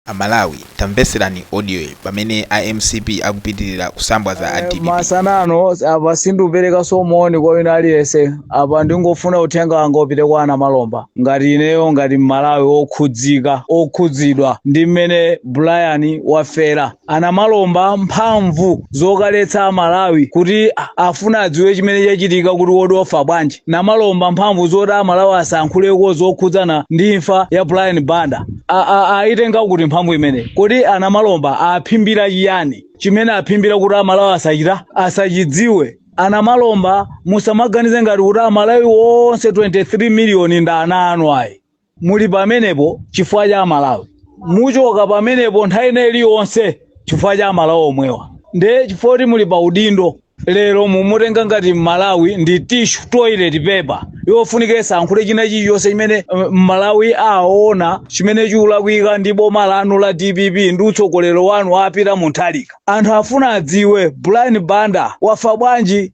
Amalawi tamvetserani audioyi pamene a mcp akupitilira kusambwaza a dpp. masana ano apa sindikuperekaso moni kwa wina aliyense apa ndingofuna uthenga wanga upite kwa a Namalomba ngati ineyo ngati mmalawi okhudzi- okhudzidwa ndi mmene Brian wafera a Namalomba mphamvu zokaletsa amalawi kuti a- afuna adziwe chimene chachitika kuti kodi wafa bwanji Namalomba mphamvu zoti amalawi asankhuleko zokhudzana ndi imfa ya Brian Banda A- a- ayitenga kuti mphamvu imeneyi kodi a Namalomba aphimbira chiyani chimene aphimbira kuti amalawi asachita asachidziwe a Namalomba musamaganize ngati kuti amalawi onse 23 miliyoni ndi ana anu ayi muli pamenepo chifukwa cha amalawi muchoka pamenepo nthawi ina iliyonse chifukwa cha amalawi omwewa nde chifukwa kuti muli pa udindo lero mumutenga ngati mmalawi ndi tishu toilet paper ofunika asankhule china chilichonse chimene uh, mmalawi aona chimene chikulakwika ndi boma lanu la dpp ndi utsogoleri wanu a Peter Mutharika anthu afuna adziwe Brian Banda wafa bwanji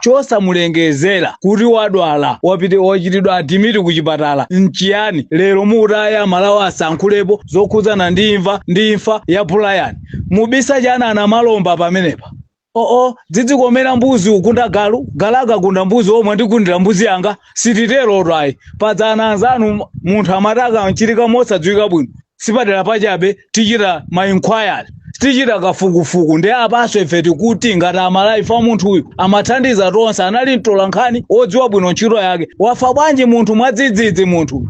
chosamulengezera kuti wadwala wapita wachitidwa admit ku chipatala nchiyani lero mukuti ayi amalawi asankhulepo zokhudzana ndi imfa ndi imfa ya Brian mubisa chani a Namalomba pamenepa oo dzidzikomera mbuzi ukunda galu galaka kunda mbuzi omwe andikundira mbuzi yanga sititerotu ayi pajatu anzanu munthu amati akamwalira mosadziwika bwino sipaderapa chabe tichita mainquiry tichita kafukufuku ndi apaso ife tikuti ngati amalawife munthu uyu amathandiza tonse anali mtola nkhani wodziwa bwino ntchito yake wafa bwanji munthu mwadzidzidzi munthu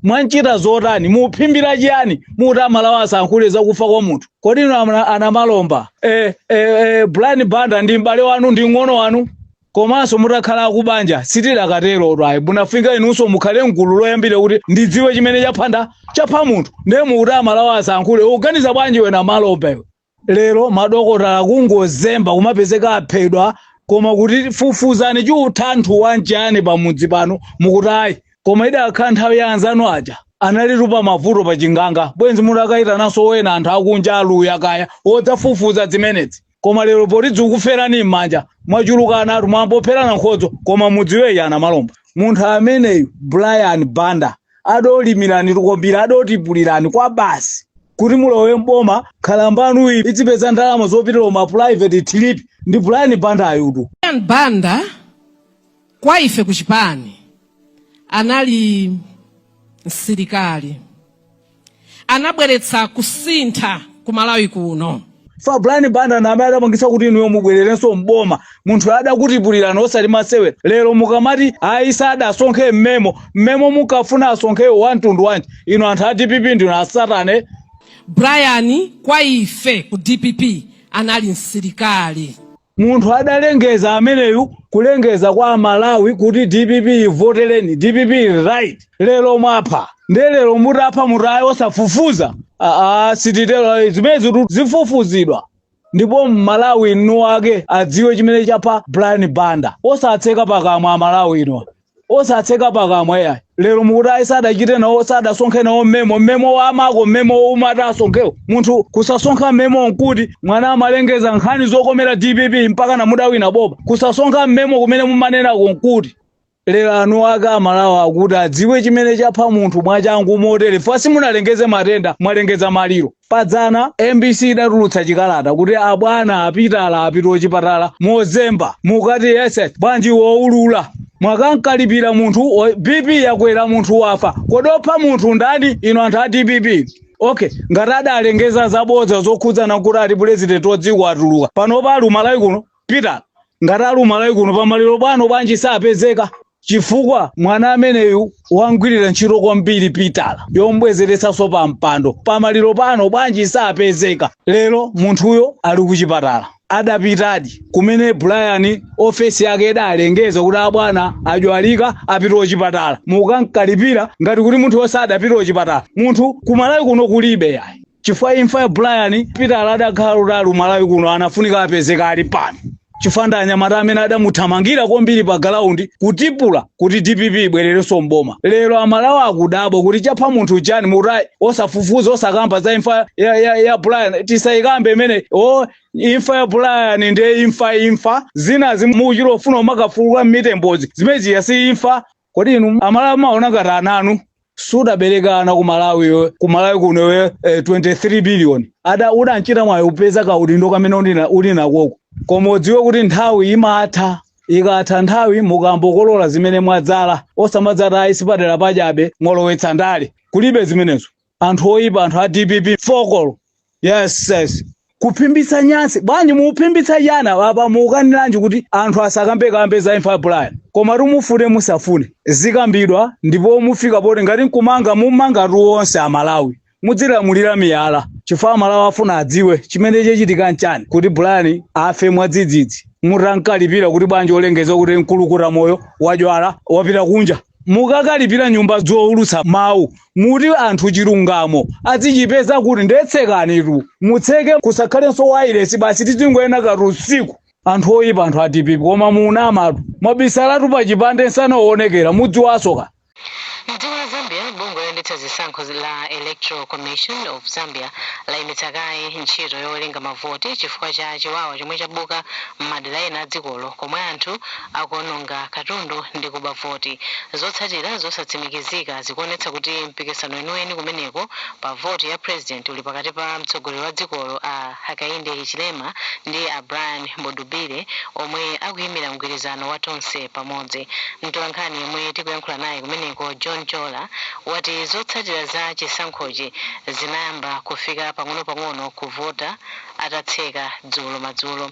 mwamchita zotani muphimbira chiyani muti amalawi asankhule zakufa kwa munthu kodi inu amna- a Namalomba eh, eh, eh, Brian Banda ndi m'bale wanu ndi mng'ono wanu Komanso mutakhala akubanja sitidakaterotu ayi munafunika inunso mukhale mgulu loyambirira kuti ndidziwe chimene chaphanda chapha munthu ndiye mukuti amalawi asankhule ukuganiza bwanji iwe Namalomba iwe lero madokotala kungozemba kumapezeka aphedwa koma kuti fufuzani chiuthanthu wanji pamudzi pano mukuti ayi koma idakhala nthawi ya anzanu aja analitu pali mavuto pa chiganga bwenzi mudakayitananso wena anthu akunja aluya kaya odzafufuza zimenezi koma lero poti zikukuferani m'manja mwachuluka anatu mwambopherana nkhodzo koma mudziwe a Namalomba munthu ameneyu Brian Banda adakulimirani tikombira adakutipulirani kwa basi kuti mulowe mboma khalambanu iyi idzipeza ndalama zopitira ma private trip ndi Brian Banda uyutu Brian Banda kwa ife kuchipani anali msilikali anabweretsa kusintha ku malawi kuno za brian banda na amene adapangitsa kuti inuyo mubwererenso mboma munthu adakutipulirani osati masewera lero mukamati ayi sadasonkhe mmemo mmemo munkafuna asonkhewo wa mtundu wanji inu anthu a dpp ndinu asatane brian kwa ife ku dpp anali msilikali Munthu adalengeza ameneyu kulengeza kwa amalawi kuti dpp ivotereni dpp ili right lero mwapha nde lero mutapha muti ayi osafufuza aa sititero zimenezitu zifufuzidwa ndipo mmalawi mwini wake adziwe chimene chapha brian banda osatseka pakamwa amalawi inu osatseka pakamwa yayi lero mukuti ayi sadachite nawo sadasonkhe nawo mmemo mmemo wa amako mmemo womwe ati asonkhewo munthu kusasonkha mmemo nkuti munthu amalengeza nkhani zokomera dpp mpaka namudawina boma kusasonkha mmemo kumene mumanenako nkuti lero eni ake amalawi akuti adziwe chimene chapha munthu mwachangu motere musanalengeze matenda mwalengeza maliro padzana mbc idatulutsa chikalata kuti abwana a peter apita kuchipatala mozemba mukuti yesi bwanji woulula mwakamkalipira munthu o- bp yakwera munthu wafa kodi wopha munthu ndani inu anthu a dpp okay ngati adalengeza zabodza zokhudzana kuti ati pulezidenti wadziko atuluka pano ali kumalawi kuno Peter ngati ali kumalawi kuno pamaliro pano bwanji sapezeka chifukwa mwana ameneyu wamgwirira ntchito kwambiri peter yombwezeretsanso pa mpando pamaliro pano bwanji sapezeka lero munthuyo ali kuchipatala adapitadi kumene brian ofesi yake idalengeza kuti abwana adwalika apita kuchipatala mukukamkalipira ngati kuti munthu wosadapita kuchipatala munthu kumalawi kuno kulibe yayi chifukwa imfa ya Brian Peter adakhala kuti ali Malawi kuno anafunika apezeke ali pano chifukwa ndi anyamata amene adamuthamangira kwambiri pa galaundi kutipula kuti dpp ibwererenso mboma lero amalawi akudabwa kuti chapha munthu chani muti ayi osafufuza osakamba za imfa ya, ya, ya Brian tisayikambe imene o imfa ya Brian ndiye imfa imfa zinazi mukufuna kumakafukula mitembozi zimeneziya si imfa kodi inu amalawi maona ngati ana anu sudabereke ana kumalawi iwe kumalawi kuno iwe eh, 23 billion ada udanchita mwayi kupeza kaudindo kamene ulina- uli nakoko koma udziwe kuti nthawi imatha ikatha nthawi mukayambokolola zimene mwadzala osamadzati ayi sipadyera apa chabe mwalowetsa ndale kulibe zimenezo anthu oyipa anthu a dpp fokolo yes yes kuphimbitsa nyansi bwanji mukuphimbitsa chani apa mukukaniranji kuti anthu asakambekambe za imfa ya brian koma mufune musafune zikambidwa ndipo mufika poti ngati nkumanga mumangatu onse amalawi mudzilamulira miyala chifukwa amalawi afuna adziwe chimene chachitika nchani kuti brian afe mwadzidzidzi mutamkalipira kuti bwanji walengeza kuti mkulukuta moyo wadwala wapita kunja mukakalipira nyumba zowulutsa mawu muti anthu chilungamo azichipeza kuti nde tsekanitu mutseke kusakhalenso wailesi basi tizingoona kathu usiku anthu oyipa anthu a DPP koma muna amatu mwabisalatu pa chipande msanaonekere mudziwa soka Mdziko la Zambia, bungwe loyendetsa zisankho la Electoral Commission of Zambia layimitsa kaye ntchito yowerenga mavoti chifukwa cha chiwawa chomwe chabuka m'madera ena a dzikolo komwe anthu akuononga katundu ndi kuba voti. Zotsatira zosatsimikizika zikuonetsa kuti mpikisano weniweni kumeneko pa voti ya President uli pakati pa mtsogoleri wa dzikolo a Hakainde Hichilema ndi a Brian Mundubile omwe akuyimira mgwirizano wa Tonse Pamodzi. Mtolankhani yemwe tikuyankhula naye kumeneko John Chola wati zotsatira za chisankhochi zinayamba kufika pang'onopang'ono kuvota atatseka dzulo madzulo.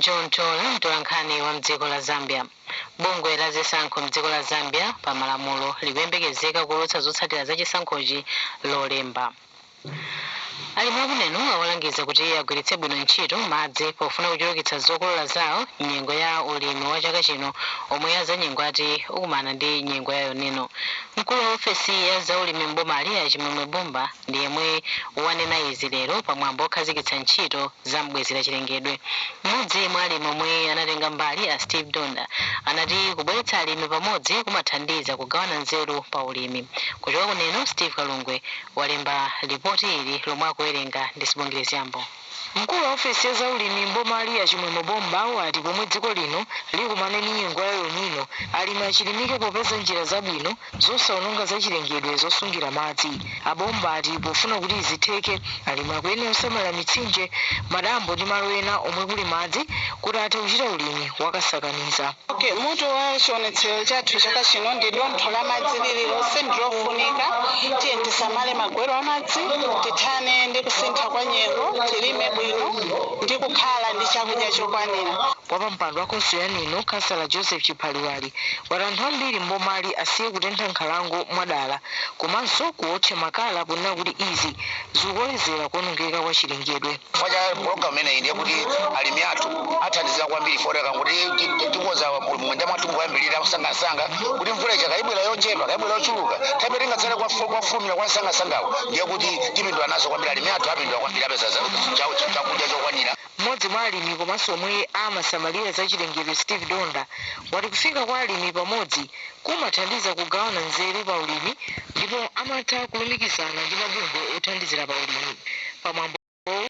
John Chola mtolankhani wa mdziko la Zambia. Bungwe la zisankho mdziko la Zambia pa malamulo likuyembekezeka kuulutsa zotsatira za chisankhochi lolemba. Alimi a ku Neno awalangiza kuti agwiritse bwino ntchito madzi pofuna kuchulukitsa zokolola zawo nyengo ya ulimi wa chaka chino omwe azanyengo ati ukumana ndi nyengo ya El Nino. Mkulu wa ofesi ya zaulimi m'bomali a Chimwemwe Bomba ndi yemwe wanena izi lero pa mwambo okhazikitsa ntchito za m'bwezera chilengedwe. M'modzi mwa alimi omwe anatenga mbali a Steve Donda anati kubweretsa alimi pamodzi kumathandiza kugawana nzeru pa ulimi. Kuchoka ku Neno, Steve Kalungwe walemba lipoti ili lomwe akuwerenga ndi Sibongile Zyambo. Mkulu wa ofesi ya za ulimi m'bomali a Chimwemwe Bomba wati pomwe dziko lino likumane ndi nyengo ya El Nino, alimi achilimike popeza njira zabwino zosaononga zachilengedwe zosungira madzi. A Bomba ati pofuna kuti izi zitheke, alimi akuyenera kusamalira mitsinje, madambo ndi malo ena omwe kuli madzi kuti athe kuchita ulimi wakasakaniza. Mutu wa chionetsero chathu chaka chino ndi dontho la madzi lililonse ndilofunika tiyeni tisamale magwero a madzi tithane ndi kusintha kwa nyengo tilime bwino ndi kukhala ndi chakudya chokwanira wapampando wa khonsolo ya neno khansala joseph chiphaliwali wati anthu ambiri mbomali asiye kutentha nkhalango mwadala komanso kuwotcha makala ponena kuti izi zikukolezera kuonongeka kwa chilengedwe chifukwa cha program imeneyi ndiye kuti alimi athu athandizika kwambiri poonako kuti ti- ti- tikoza munda mwathu moyambirira nsangansanga kuti mvula ija kaya ibwera yochepa kaya ibwera yochuluka komabe tikadzala kofu- kofulumira kwa nsangasangawo ndiye kuti tipindula nazo kwambiri alimi athu apindula kwambiri apeza za- cha- cha- chakudya chokwanira mmodzi mwa alimi komanso omwe amasamalira za chilengedwe steve donda wati kufika kwa alimi pamodzi kumathandiza kugawana nzeru pa ulimi ndipo amatha kulumikizana ndi mabungwe othandizira pa ulimi. Pa mwambowu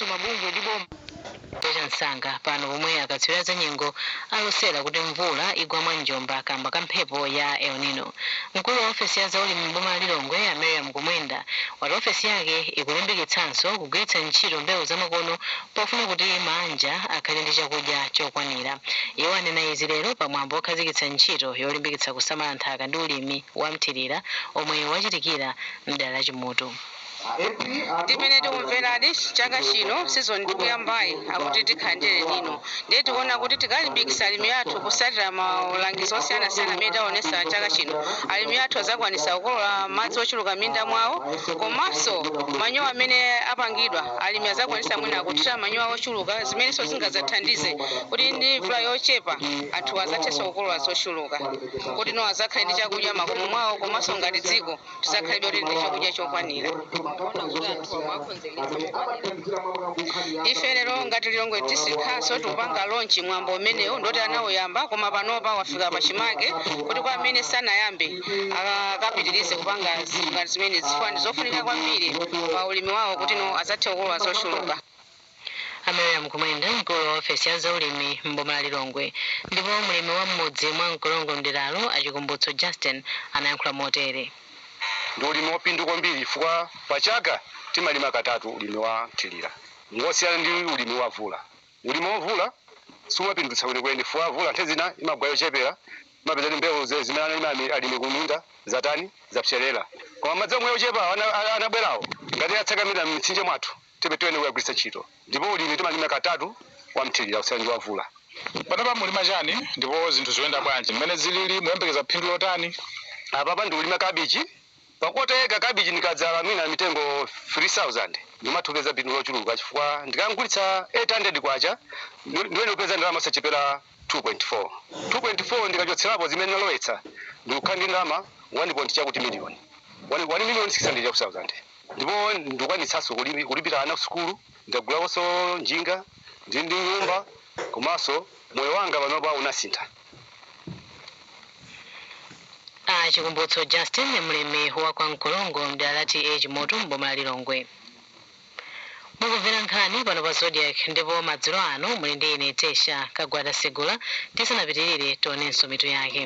mabungwe ndi boma cha msanga pano pomwe akatswiri a zanyengo alosera kuti mvula igwa mwa njomba kamba ka mphepo ya El Nino. Mkulu wa ofesi ya zaulimi m'boma la Lilongwe a Miriam Mkumwenda wati ofesi yake ikulimbikitsanso kugwiritsa ntchito mbewu zamakono Pofuna kuti maanja akhale ndi chakudya chokwanira, iwo anena izi lero pa mwambo okhazikitsa ntchito yolimbikitsa kusamala nthaka ndi ulimi wa mthilira omwe wachitikira mdera la TA Chimutu. Mmene tikumveladi chaka chino season tikuyambayi akuti tikhala ndi El Nino ndiye tikuona kuti tikalimbikisa alimi athu kusatila maulangizi osiyanasiyana amene taonesa chaka chino alimi athu azakwanisa kukolola madzi ochuluka minda mwawo komaso manyowa amene apangidwa Alimi adzakwanitsa mwina kuthira manyowa ochuluka zimenenso zingadzathandize kuti ndi mvula yochepa anthu adzathenso kukolola zochuluka kuti adzakhale ndi chakudya makomo mwawo komanso ngati dziko tidzakhalebe kuti ndi chakudya chokwanira. Ife lero ngati Lilongwe District Council tikupanga launch mwambo umenewu ndi oti anauyamba koma panopa wafika pachimake kuti kwa amene sanayambe akapitirize kupanga zinthu ngati zimenezi chifukwa ndi zofunika kwambiri pa ulimi wawo kuti adzathe kukolola zochuluka a miriam mkumwenda mkulu wa ofesi ya zaulimi m'boma la lilongwe ndipo mlimi wa mmudzi mwa mkolongo mderalo a chikumbutso justin anayankhula motere ndi ulimi waphindu kwambiri chifukwa pa chaka timalima katatu ulimi wa nthirira ngosiyana ndi ulimi wa vula Ulimi wamvula sumapindulitsa kwenikweni chifukwa mvula nthawi zina imagwa yochepera, imapezeka kuti mbewu zimene analima alimi kumunda zatani, zapserera. Koma madzi omwe ochepawo anabwerawo ngati atsakamira m'mitsinje mwathu tiyenera kukagwiritsa ntchito ndipo ulimi timalima katatu wamthirira kusiyana ndi wamvula. Panopa mukulima chani ndipo zinthu zikuyenda bwanji? Mmene zilili mukuyembekeza phindu lotani? Apapa ndikulima kabichi Pa kota eka kabichi nikadzala mwina mitengo 3,000 ndimatha kupeza phindu lochuluka chifukwa ndikamgulitsa K800 ndiyenera kupeza ndalama osachepera 2.4, 2.4 ndikachotserapo zimene nalowetsa ndikukhala ndi ndalama 1 point chakuti miliyoni, 1,600,000 chakuti sauzande ndipo ndikwanitsaso kulipira ana kusukulu, ndagulakoso njinga, ndili ndi nyumba komaso moyo wanga panopa unasintha. a chikumbutso justin mlimi wa kwa mkolongo mdera la ta chimutu m'boma la lilongwe mukumvera nkhani pano pa zodiak ndipo madzulo ano muli ndi ine tesha kagwada segula tisanapitirire tionenso mitu yake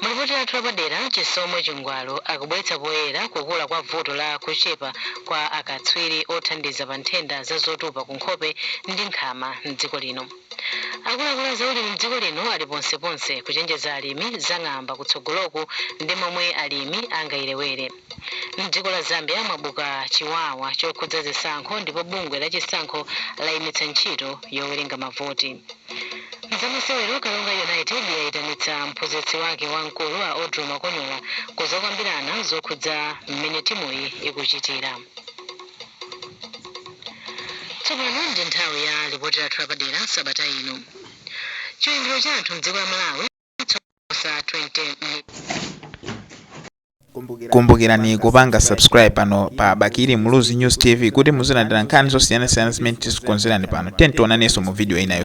mulipoti lathu lapadera chisomo chingwalo akubweretsa poyera kukula kwa vuto la kuchepa kwa akatswiri othandiza pa nthenda za zotupa ku nkhope ndi mkamwa mdziko lino Akuluakulu a zaulimi m'dziko lino ali ponseponse kuchenjeza alimi za ng'amba kutsogoloku ndi momwe alimi angayipewere. M'dziko la Zambia mwabuka chiwawa chokhudza zisankho ndipo bungwe la chisankho layimitsa ntchito yowerenga mavoti. M'zamasewero, Karonga United yayitanitsa mphunzitsi wake wamkulu a Audlow Makonyola kuzokambirana zokhudza m'mene timuyi ikuchitira. Tsopano ndi nthawi ya lipoti lathu lapadera sabata ino. Chiwerengero cha anthu m'dziko la Malawi choposa 20 Kumbukirani kupanga subscribe pano pa Bakili Muluzi News TV kuti muzilandira nkhani zosiyanasiyana zimene tizikonzerani pano. Tiyeni tionanenso mu video inayo.